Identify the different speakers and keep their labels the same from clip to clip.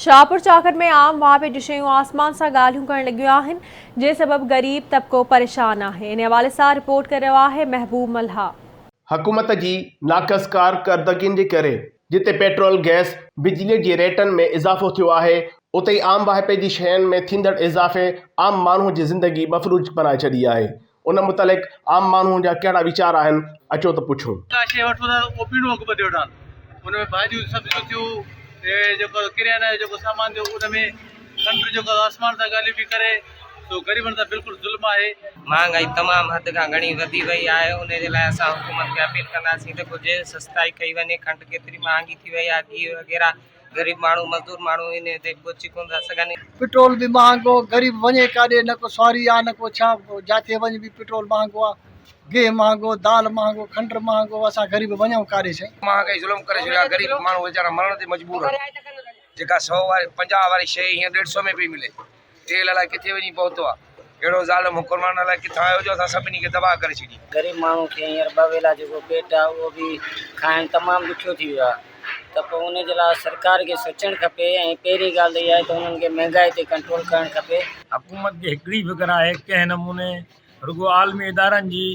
Speaker 1: شاهپور چاڪر ۾ عام واهپي جون شيون آسمان سان ڳالهيون ڪرڻ لڳيون آهن جنهن سبب غريب طبقو پريشان آهي انهي حوالي سان رپورٽ ڪري رهيو آهي محبوب ملهاء. حڪومت جي
Speaker 2: ناقص ڪارڪردگين جي ڪري جتي پيٽرول، گئس، بجلي جي ريٽن ۾ اضافو ٿيو آهي اتي ئي عام واهپي جي شين ۾ ٿيندڙ اضافي عام ماڻهو جي زندگي مفلوج بنائي ڇڏي آهي ان متعلق عام ماڻهوء جا ڪهڙا ويچار آهن، اچو ته پڇون. ڪا شيء وٺون ٿا ته اوپرينو اگهه ٻڌي وٺان.
Speaker 3: ان ۾ ڀاڄيون سبزيون ٿيون، جيڪو ڪريانه جو جيڪو سامان ٿيو ان ۾ کنڊ جيڪو آسمان تان ڳالهيون پئي ڪري سو غريبن سان بلڪل ظلم آهي. مهانگائي تمام
Speaker 4: حد کان گهڻي وڌي وئي آهي، ان جي لاء اسان حڪومت کي اپيل ڪنداسين ته ڪجهه سستائي ڪئي وڃي، کنڊ ڪيتري مهانگي ٿي وئي آهي، گيهه وغيره. غريب ماڻهو مزدور ماڻهو هن تي پهچي ڪونه ٿا سگهن. پٽرول به مهانگو،
Speaker 5: غريب وڃي ڪاڏي نه ڪو سواري آ نه ڪو ڇا، جاٿي وڃ به پٽرول مهانگو آ، گيهه مهانگو، دال مهانگو، کنڊ مهانگو، اسان غريب وڃون ڪاڏي سائين. مهانگائي ظلم ڪري ڇڏيو آ،
Speaker 6: غريب ماڻهو ويچارا مرڻ تي مجبور آهن، جيڪا سئو واري پنجاهه واري شيء هينئر ڏيڍ سئو ۾ پئي ملي. تيل الائي ڪٿي وڃي پهتو آ. اهڙو ظالم حڪرمان الائي ڪٿان آيو جو اسان سڀني کي تباهه ڪري ڇڏي. غريب ماڻهو کي هينئر
Speaker 7: ٻه ويلا جيڪو پيٽ آ اهو به کائڻ تمام ڏکيو ٿي ويو آ ته پوء ان جي لاء سرڪار کي سوچڻ کپي ۽ پهرين ڳالهه ته اها آهي ته انهن کي مهنگائي تي ڪنٽرول ڪرڻ کپي. حڪومت کي هڪڙي
Speaker 8: فڪر آهي ڪنهن نموني رڳو عالمي ادارن جي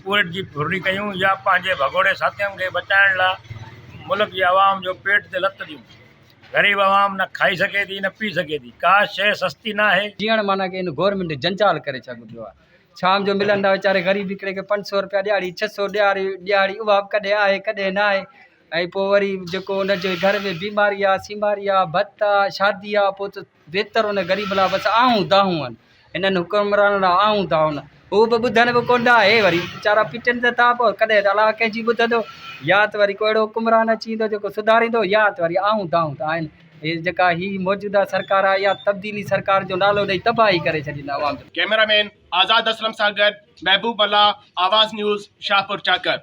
Speaker 8: پورهيت جي ڦرلي ڪيون يا پنهنجي ڀڳوڙي ساٿين کي بچائڻ لاء ملڪ جي عوام جو پيٽ تي لت ڏيون. غريب عوام نه کائي سگهي ٿي نه پي سگهي ٿي ڪا شيء سستي ناهي. جيئڻ معنيٰ ڪي هن گورنمينٽ
Speaker 9: جنجال ڪري ڇڏو پيو آهي شام جو ملن ٿا ويچاري غريب هڪڙي کي پنج سئو روپيا ڏيهاڙي ڇهه سئو ڏيهاري ڏيهاڙي اها به ڪڏهن آهي ڪڏهن ناهي ۽ پوء وري جيڪو ان جي گهر ۾ بيماري آهي سيماري آهي ڀت آهي شادي آهي پوء ته بهتر ان غريب لا بس آهون دانهون هن هنن حڪمرانن لا آهون دانهون هو به ٻڌن به ڪونه ٿا هي وري ويچارا پٽن ته ٿا پو ڪڏهن ته الاء ڪنهن جي ٻڌندو يا ته وري ڪو اهڙو حڪمران اچي ويندو جيڪو سڌاريندو يا ته وري آهون دانهون ته آهن هي جيڪا هي موجوده سرڪار آهي اها تبديلي سرڪار جو نالو ڏئي تباهي ڪري ڇڏيندا عوام جو ڪيمرا مين
Speaker 2: آزاد اسلم سان گڏ محبوب ملاح آواز نيوز شاهپور چاڪر